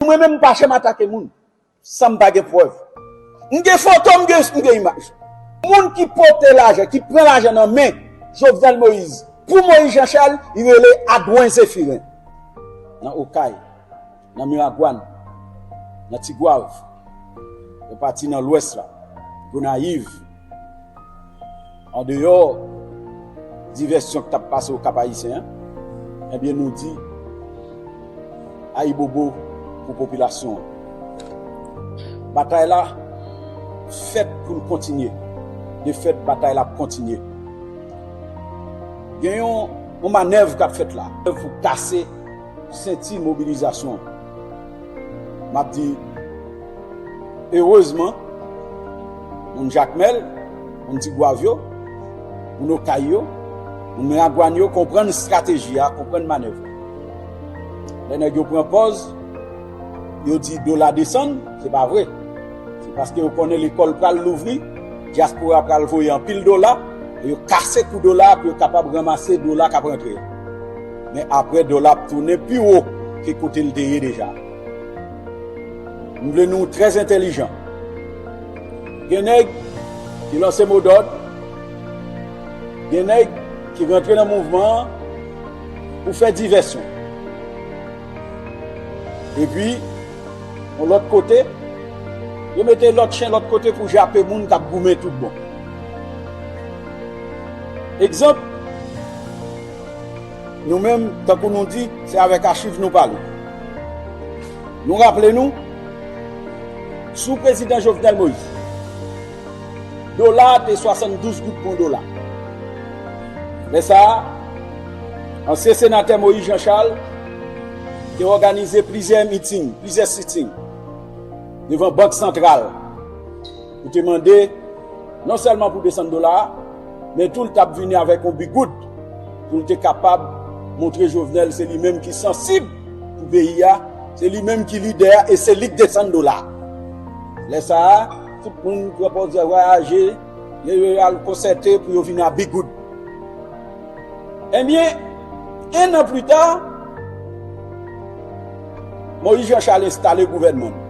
Mwen menm m pa janm atake moun san m pa gen prèv. M gen foto, m gen imaj. Moun ki pote lajan, ki pran lajan nan men Jovenel Moïse pou Moïse Jean Charles, li rele Adwen Zephirin. Nan Okay, nan Miragwàn, nan Tigwav, yon pati nan Lwès la, Gonayiv. Andeyò divèsyon k t ap pase Okap Ayisyen an, ebyen nou di ayibobo pou popilasyon an. Batay la fèt pou l kontinye. De fèt, batay la ap kontinye. Gen yon manèv k ap fèt la. Pou kase senti mobilizasyon an. M ap di, Erezman, moun Jakmèl, moun Tigwav yo, moun Okay yo, moun Miragwàn yo konprann estrateji a, konprann manèv la. Lè nèg yo pran pòz, yo di dola desann, se pa vre. Se paske yo konnen lekòl pral louvri, dyaspora pral voye anpil dola, e yo kase kou dola a pou yo kapab ranmase dola k ap rantre a. Men aprè dola ap tounen pi wo ke kote l te ye deja. M vle nou trè entèlijan. Gen nèg ki lanse mo dòd, gen nèg ki rantre nan mouvman an pou fè divèsyon. Epi, yon lòt kote, yo mete lòt chen lòt kote pou jape moun k ap goumen tout bon. Egzanp. Nou menm, tankou nou di, se avèk achiv nou pale. Nou raple nou, sou prezidan Jovenel Moïse, dola a te 72 goud pou yon dola. Lè sa a, ansyen senatè Moïse Jean Charles te òganize plizyè meeting, plizyè sitting devan bank santral. Li te mande non sèlman pou 200 dola a, men tou li t ap vini avèk yon bigoud pou li te kapab montre Jovenel se li menm ki sansib pou peyi a, se li menm ki lidè a e se li k 200 dola a. Lè sa a, tout moun pran pòz yo vwayaje, yo al konsète pou yo vini a bigoud. Ebyen, ennan plita, Moïse Jean Charles enstale gouvènman li.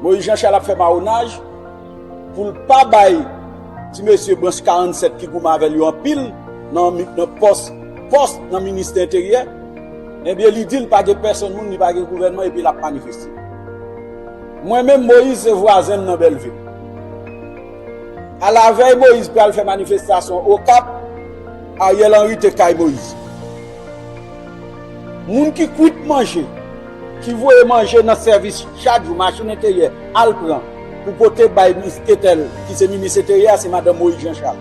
Moïse Jean Charles ap fè mawonaj poul pa bay ti mesye branch 47 ki goumen avèl yo anpil nan pòs pòs nan ministè enteryè ebyen li dil pa gen pèsonn moun li pa gen gouvènman epi lap manifeste mwen menm Moïse se vwazenm nan Belleville alavèy Moïse pral fè manifestasyon okap Ariel Henry te kay Moïse moun ki kwit manje. ki voye manje nan sèvis chak jou machin enteryè al pran pou pote bay minis Ketel ki se minis enteryè a se madanm Moyiz Janchal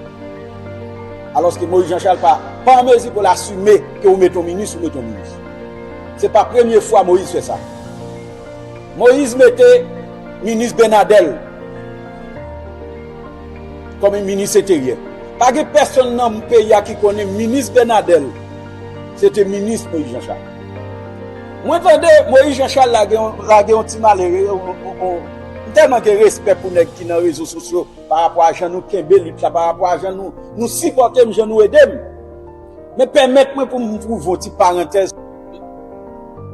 alòske Moyiz Janchal pa pa an mezi pou l asime ke ou mete yon minis ou mete yon minis se pa premye fwa Moyiz fè sa Moyiz mete minis Benadèl kòm minis enteryè pa gen pèsonn nan peyi a ki konnen minis Benadèl se te minis Moyiz Janchal. Mwen tande Moïse Jean Charles la gen lage yon ti malere m tèlman gen respè pou nèg ki nan rezo sosyo pa rapò a jan nou kenbe lit la pa rapò a jan nou sipòte m jan nou ede m men pèmèt mwen pou m twouve yon ti parantèz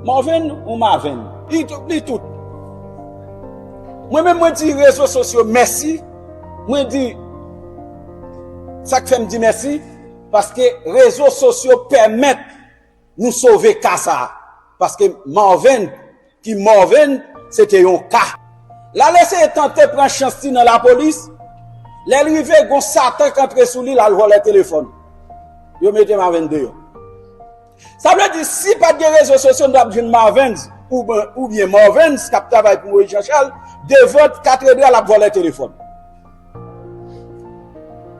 Morven ou Maven? Li tout Mwen menm mwen di rezo sosyo mèsi mwen di sa k fè m di mèsi paske rezo sosyo pèmèt. Nou sove ka sa a. Paske Marven, ki Morven, se te yon ka. Lal eseye tante pran chans li nan lapolis, lè l rive gon satan k antre sou li lal vòlè telefòn. Yo mete Marven deyò. Sa vle di si pat gen rezo sosyo nou tap jwenn Marvens oubyen Morvens kap travay pou Moyiz Janchal devan katredral ap vòlè telefòn.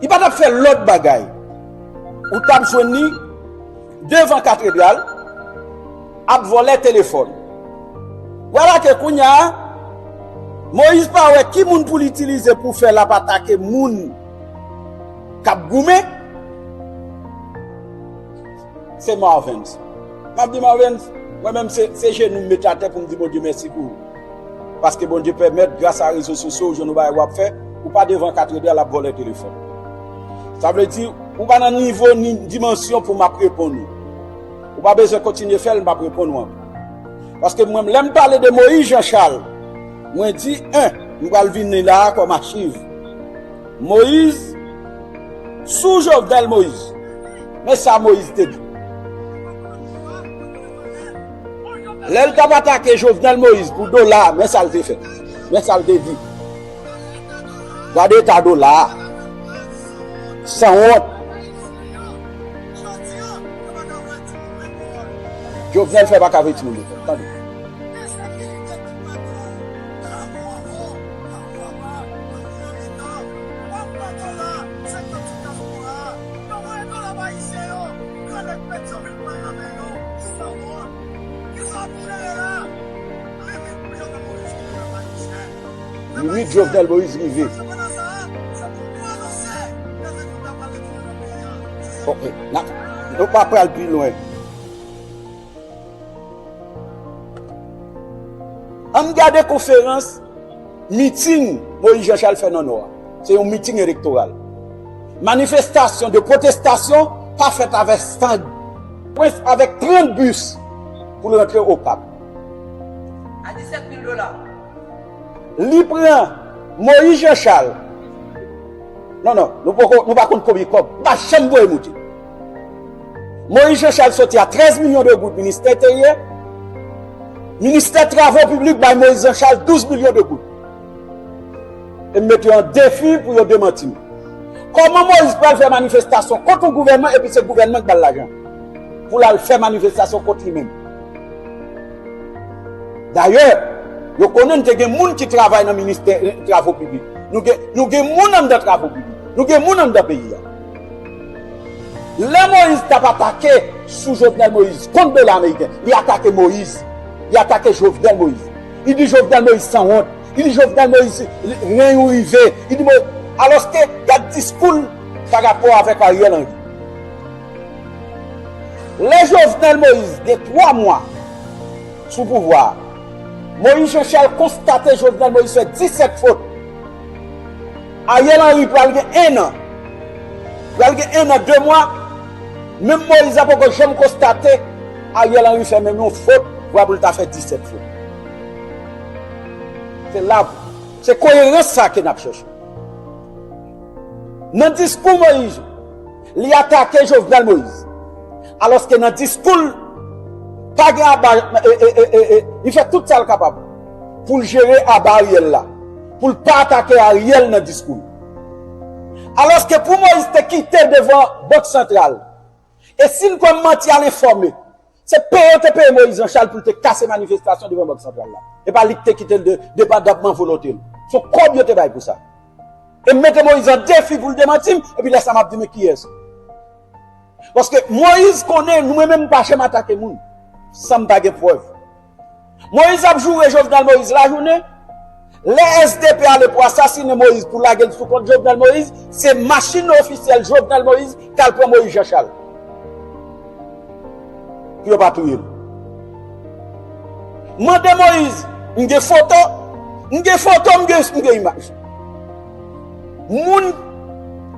Li pa t ap fè lòt bagay. Ou t ap jwenn li devan katredral ap vòlè telefòn. Vwala ke kounya Moyiz pa wè ki moun pou l itilize pou fè l ap atake moun k ap goumen. Se Marvens. M ap di Marvens, mwen menm se jenou m mete atè pou m di Bondye mèsi pou ou. Paske Bondye pèmèt gras a rezo sosyo ou jwenn yon bagay wap fè, ou pa devan katredè lap vòlè telefòn. Sa vle di ou pa nan nivo ni dimansyon pou map reponn ou. Ou pa bezwen kontinye fèl map reponn ou ankò. Paske mwen lèm pale de Moïse Jean Charles mwen di 1 m pral vin li la a kòm achiv. Moïse sou Jovenel Moïse men sa Moïse te di. Lè l t ap atake Jovenel Moïse pou dola a, men sa l te fè, men sa l te di, Gade eta dola a, sanwont. Jovenel fè pa ka voye timoun lekòl, tande. Limit Jovenel Moïse rive. Ok, nou pa pral pi lwen. Ann gade konferans. Meeting Moïse Jean Charles fè nan Nò a, se yon meeting elektoral. Manifestasyon de pwotestasyon pa fèt avèk stand. Prince avèk 30 bus pou l rantre Okap. A 17 mil dola. Li pran Moïse Jean Charles. Non non, nou pa konn konbyen kòb. Li pa janm voye moute. Moïse Jean Charles soti a 13 milyon de goud ministè enteryè, ministè travo piblik bay Moïse Jean Charles 12 milyon de goud. E m met yo an defi pou yo demanti m. Kòman Moïse pral fè manifestasyon kont yon gouvènman epi se gouvènman ki ba l lajan pou l al fè manifestasyon kont li menm? Dayè, yo konnen n te gen moun ki travay nan ministè travo piblik. Nou gen moun anndan travo piblik. Nou gen moun anndan peyi a. Lè Moïse tap atake sou Jovenel Moïse kont dola ameriken li atake Moïse li atake Jovenel Moïse li di Jovenel Moïse sanwont li di Jovenel Moïse ren ou rive li di Moïse alòske gad diskou l pa rapò avèk Ariel Henry lè Jovenel Moïse gen 3 mwa sou pouvwa a Moïse Jean Charles konstate Jovenel Moïse fè 17 fot. Ariel Henry pral gen 1 an. Pral gen 1 an 2 mwa. Menm Moïse la poko janm konstate Ariel Henry fè menm yon fot vwa pou l ta fè 17 fot. Se la pou. Se koyerans sa ke n ap chèche. Nan diskou Moïse li atake Jovenel Moïse. Alòske nan diskou l pa gen aba li fè tout sa l kapab pou l jere aba Ariel la. Pou l pa atake Ariel nan diskou l. Alòske pou Moïse te kite devan Bank Santral. E si n kwè manti al enfòme, se peye yo te peye Moïse Jean-Charles pou l te kase manifestasyon devan Bank Santral la. E pa li ki te kite l depandamman volonte l. Se yon kòb yo te bay pou sa. E m mete Moïse an defi pou l demanti m, epi lè sa m ap di men kiyès. Paske Moïse konnen nou mwen menm m pa janm atake moun san m pa gen prèv. Moise ap joure Jovenel Moise lajounen, lè SDP ale pou asasine Moise pou lagel sou kont Jovenel Moise, se machine ofisyèl Jovenel Moise kal pran Moise Jean Charles. Pou yo pa touyel. Mande Moise, m gen foto, m gen foto, m gen imaj. Moun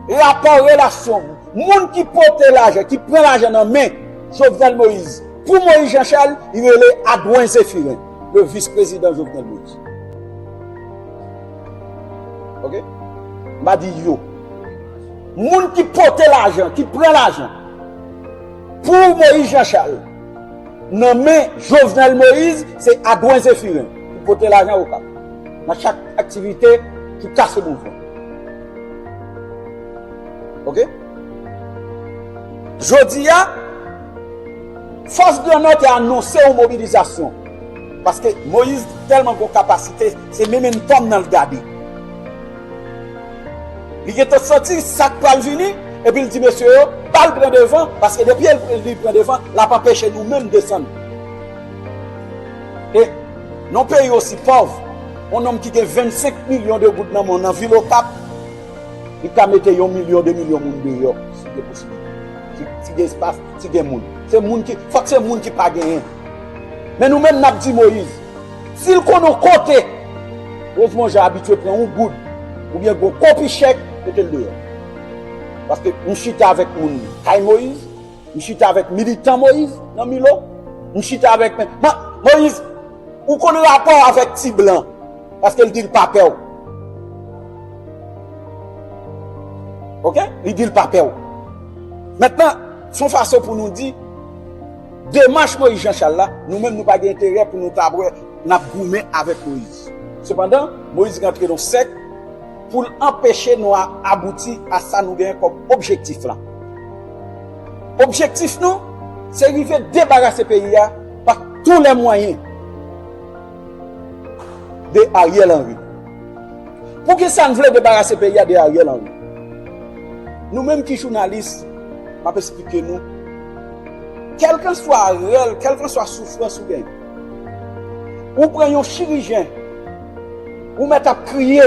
rapò relasyon, Moun ki pote lajan, ki pran lajan nan men Jovenel Moïse pou Moïse Jean Charles, li rele Adwen Zephirin, le vice president Jovenel Moïse. Ok? M pa di yo. Moun ki pote lajan, ki pran lajan pou Moïse Jean Charles, nan men Jovenel Moïse, se Adwen Zephirin, ki pote lajan ou kap. Nan chak aktivite ki kase moun fè. Ok. Jodi a, fòs grandnò te anonse yon mobilizasyon. Paske Moïse tèlman gon kapasite, se mementom nan l gade. Li gen tan santi sa k pral vini, epi l di mesye yo, ba l pran devan, paske depi li pran devan, l ap anpeche nou menm desann. E, nan yon peyi osi pòv, yon nonm ki gen 25 milyon de goud nan men w nan vil Okap, Li ka mete yon milyon, de milyon moun deyò si gen posiblite. Si gen espas, si gen moun. Se moun ki, fòk se moun ki pa genyen. Men nou menm nap di Moïse, si l konn yon kote, Rosemon Jean abitye pran yon goud oubyen gon kopi chèk, mete l deyò. Paske nou chita avèk moun kay Moïse. M chita avèk militan Moise nan Milo, m chita avèk men Moise ou konn rapò avèk ti blan paske l di l pa pè w ok li di l pa pè w mentnan s on fason pou nou di demach Moise Jean Charles la nou menm nou pa gen enterè pou nou ta wè n ap goumen avèk Moise sepandan Moise rantre nan yon sèk pou l anpeche nou abouti a sa nou genyen kòm objektif lan. Objektif nou se rive debarase peyi a pa tou lè mwayen de Ariel Henry. Pou ki sa n vle debarase peyi a de Ariel Henry? Nou menm ki jounalis, m ap esplike nou, kèlkanswa rèl, kèlkanswa soufrans ou gen, ou pran yon chirijen, ou mèt ap kriye,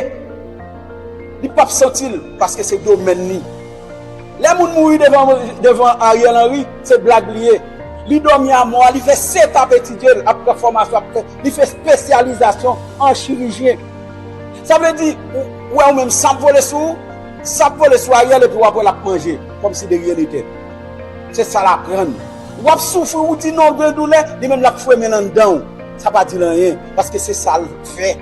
li p ap santi l paske se domèn li. Lè moun mouri devan Ariel Henry se blag li ye. Li dòmi a mò a, li fè 7 ap etidye l, ap pran fòmasyon, ap fè, li fè spesyalizasyon an chirijyen. Sa vle di, ou wè ou menm sa ap vole sou ou, sa ap vole sou Ariel epi w ap wè l ap manje kòm si de ryen nete. Se sa l aprann. W ap soufri, ou di non gen doulè, li menm l ap fwemen l anndan ou. Sa pa di l anyen, paske se sa l fè.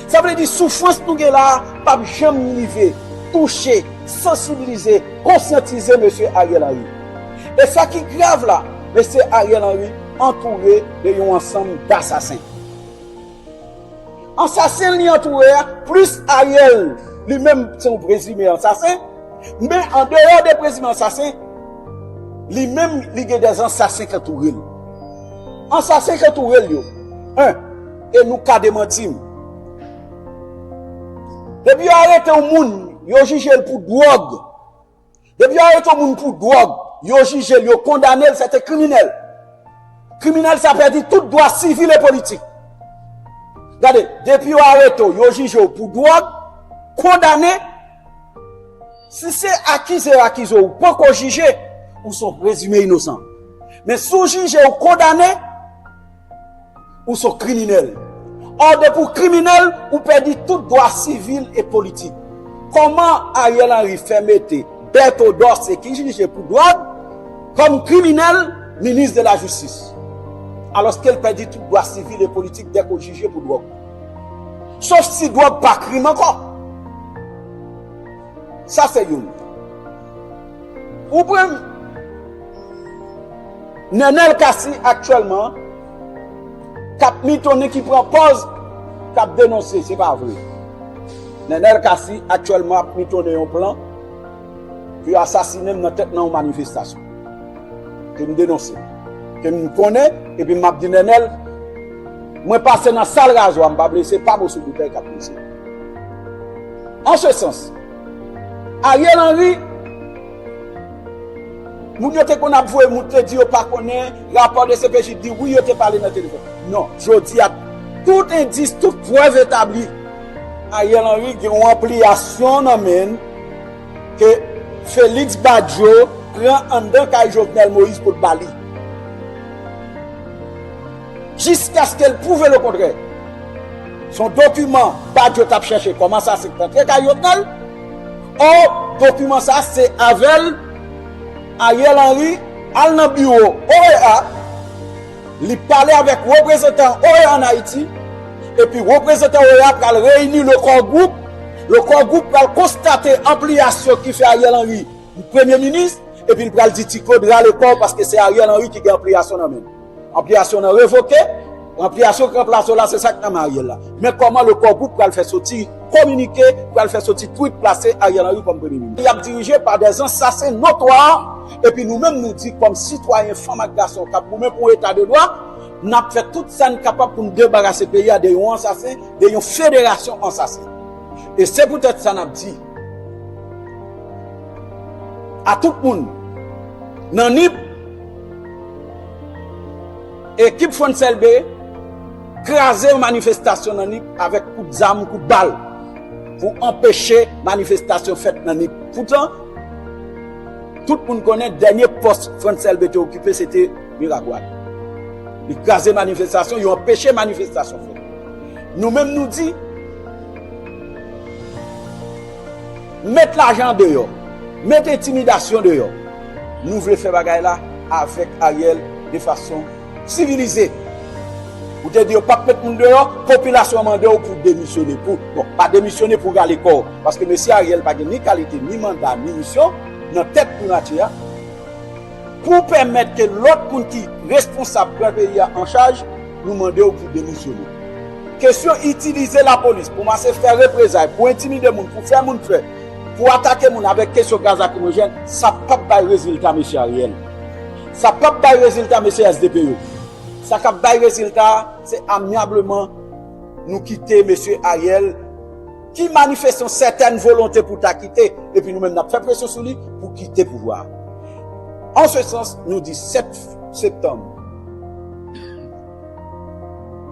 Sa vle di soufrans nou gen la a pap janm rive touche, sansibilize, konsyantize Mesye Ariel Henry. E sa ki grav la, Mesye Ariel Henry antoure de yon ansanm dasasen. Ansasen li antoure a, plis Ariel li menm se yon prezime ansasen, men andeyò de prezime ansasen, li menm li gen de ansasen ki antoure l. Ansasen ki antoure l yo, 1. E nou ka demanti m. Depi yo arete yon moun, yo jije l pou dwòg. Depi yo arete yon moun pou dwòg, yo jije l, yo kondane l, se te kriminèl. Kriminèl sa pèdi tout dwa sivil e politik. Gade, depi yo arete w, yo jije w pou dwòg, kondane, si se akize yo akize w, ou pa ko jije, ou son prezime inosan. Men sou jije ou kondane, Ou son kriminèl. Or depi w kriminèl, ou pèdi tout dwa sivil e politik. Koman Ariel Henry fè mete Berto Dorce ki jije pou dwòg kòm kriminèl minis de la jistis? Alòske l pèdi tout dwa sivil e politik dèke w jije pou dwòg. Sof si dwòg pa krim ankò. Sa se youn. Ou pran m. Nenel Cassy aktyèlman kap mitonnen ki pran pòz kap denonse se pa vre. Nenel Cassy aktyèlman ap mitonnen yon plan pou yo asasinen m nan tèt nan yon manifestasyon ke m denonse, ke m konnen epi map di Nenel mwen pase nan sal razwa m pa blese pa moso boutèy kap blese m. An se sans. Ariel Henry Moun yo te konn ap voye moun te di yo pa konnen rapò dcpj di wi yo te pale nan telefòn non jodi a tout endis tout prèv etabli Ariel Henry gen yon anpliyasyon nan men l ke Felix Badio pran anndan kay Jovenel Moïse pou l ba li. Jiskaske l pwouve lekontrè. Se yon dokiman Badio t ap chèche kòm ansasen k t antre kay Jovenel. Ò, dokiman sa a se avè l Ariel Henry al nan biwo OEA, li pale avèk reprezantan OEA ann Ayiti, epi reprezantan OEA a pral reyini Le Core Group, Le Core Group pral konstate anpliyasyon ki fè Ariel Henry Premye Minis, epi l pral di Ti Claude rale kò w paske se Ariel Henry ki gen anpliyasyon nan men l. Anpliyasyon nan revoke, anpliyasyon ki ranplase w la se sa ki nan men Ariel la. Men kòman le Core Group pral fè soti kominike, pral fè soti tweet plase Ariel Henry kòm premye minis. Peyi a ap dirije pa dè ansasen notwa, epi nou menm nou di kòm sitwayen fanm ak gason k ap goumen pou yon eta de dwa, n ap fè tout sa n kapab pou n debarase peyi a de yon ansasen, de yon federasyon ansasen. E se poutèt sa n ap di a tout moun nan Nip, Ekip Fonsèlbe kraze yon manifestasyon nan Nip avèk kout zam, kout bal pou anpeche manifestasyon fèt nan Nip. Poutan, tout moun konnen dènye pòs Fonsèlbe te okipe se te Miragwàn. Li kraze manifestasyon, yo anpeche manifestasyon fèt. Nou menm nou di. Met lajan an deyò. Met entimidasyon deyò. Nou vle fè bagay la avèk Ariel de fason sivilize. Ou te di yo pap met moun deyò, popilasyon an mande w pou w demisyone. Pou, bon, pa demisyone pou w rale kò w. Paske mesye Ariel pa gen ni kalite, ni manda, ni misyon nan tèt primati a. Pou pèmèt ke lòt moun ki responsab pran peyi a an chaj, nou mande w pou demisyone. Kesyon itilize lapolis pou mase fè reprezay, pou entimide moun, pou fè moun pè, pou atake moun avèk kesyon gaz lakrimojèn, sa p ap bay rezilta Mesye Ariel. Sa p ap bay rezilta Mesye sdp yo. Sa k ap bay rezilta a, se amyableman nou kite Mesye Ariel. ki manifeste yon sètèn volonte pou ta kite, epi nou menm n ap fè presyon sou li pou kite pouvwa a. An se sans, nou di 7 septanm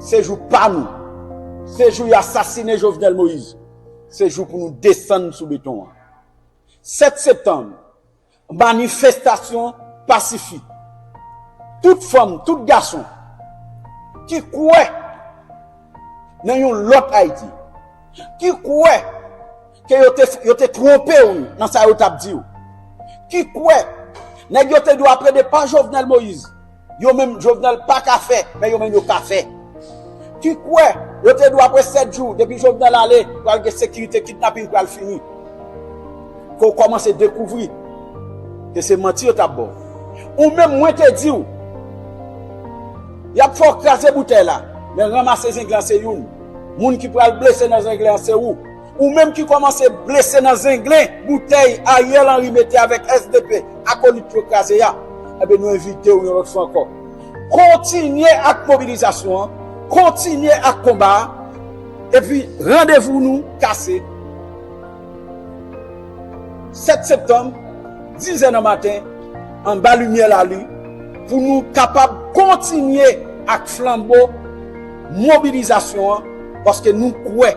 se jou pa nou, se jou yo asasine Jovenel Moïse, se jou pou nou desann sou beton an. 7 septanm Manifestasyon pasifik tout fanm, tout gason ki kwè nan yon lòt Ayiti, ki kwè ke yo te twonpe ou nan sa yo t ap di ou, ki kwè nèg yo te dwe aprede pa Jovenel Moïse. Yo menm Jovenel pa ka fè, men yo menm yo ka fè. Ki kwè, yo te di w apre 7 jou, depi Jovenel ale, pral gen sekirite, kidnaping pral fini. Ke w kòmanse dekouvri, ke se manti yo t ap ba w. Ou menm, mwen te di w, y ap fè w kraze boutèy la, men ranmase zenglen an se youn. Moun ki pral blese nan zenglen an se ou. Ou menm ki komanse blese nan zenglen boutèy Ariel Henry mete avèk sdp akolit yo kraze a, enben nou envite w yon lòt fwa ankò, kontinye ak mobilizasyon an, kontinye ak konba a, epi randevou nou kase 7 septanm dizè nan maten anba limyè lalin pou nou kapab kontinye ak flanbo mobilizasyon an paske nou kwè.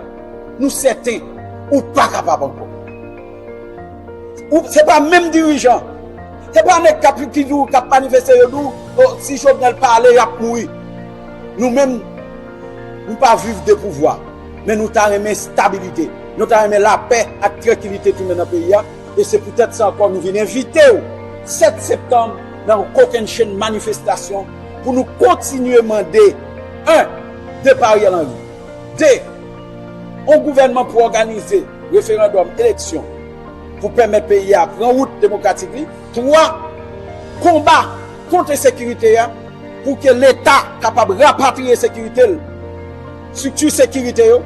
Nou sèten ou pa kapab ankò. Se pa menm dirijan, se pa nèg kap di ou, kap manifeste yo di ou, oh si Jovenel pa ale yap mouri. Nou menm, nou pa viv de pouvwa, men nou ta renmen stabilite, nou ta renmen lapè ak trankilite tounen nan peyi a, e se pou tèt sa ankò nou vin envite ou 7 septanm nan yon kokennchenn manifestasyon pou nou kontinye mande 1. Depa Ariel Henry. 2. On gouvènman pou òganize referandòm, eleksyon, pou pèmèt peyi a pran wout demokratik li. 3. Konba kont ensekirite a pou ke Leta kapab rapatriye sekirite l, strikti sekirite yo,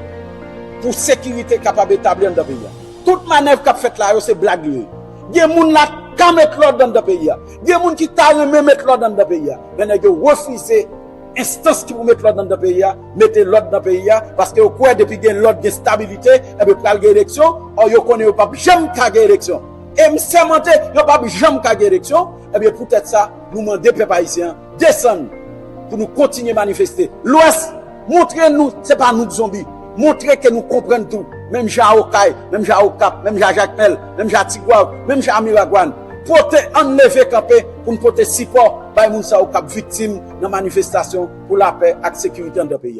pou sekirite kapab etabli anndan peyi a. Tout manèv k ap fèt la yo se blag li ye. Gen moun la ka met lòd anndan peyi a. Gen moun ki ta renmen met lòd anndan peyi a. Men nèg yo refize. Enstans ki pou met lòd anndan peyi a mete lòd nan peyi a paske yo kwè depi gen lòd gen stabilite enben pral gen eleksyon ò yo konnen yo p ap janm ka gen eleksyon e m sèmante yo p ap janm ka gen eleksyon enben poutèt sa nou mande pèp ayisyen an desann pou nou kontinye manifeste lwès montre nou se pa nou k zonbi montre ke nou konprann tou menm jan a okay menm jan a okap menm jan a jakmèl menm jan a tigwav menm jan a miragwàn. Pote Ann leve kanpe pou n pote sipò bay moun sa yo k ap viktim nan manifestasyon pou lapè ak sekirite anndan peyi a.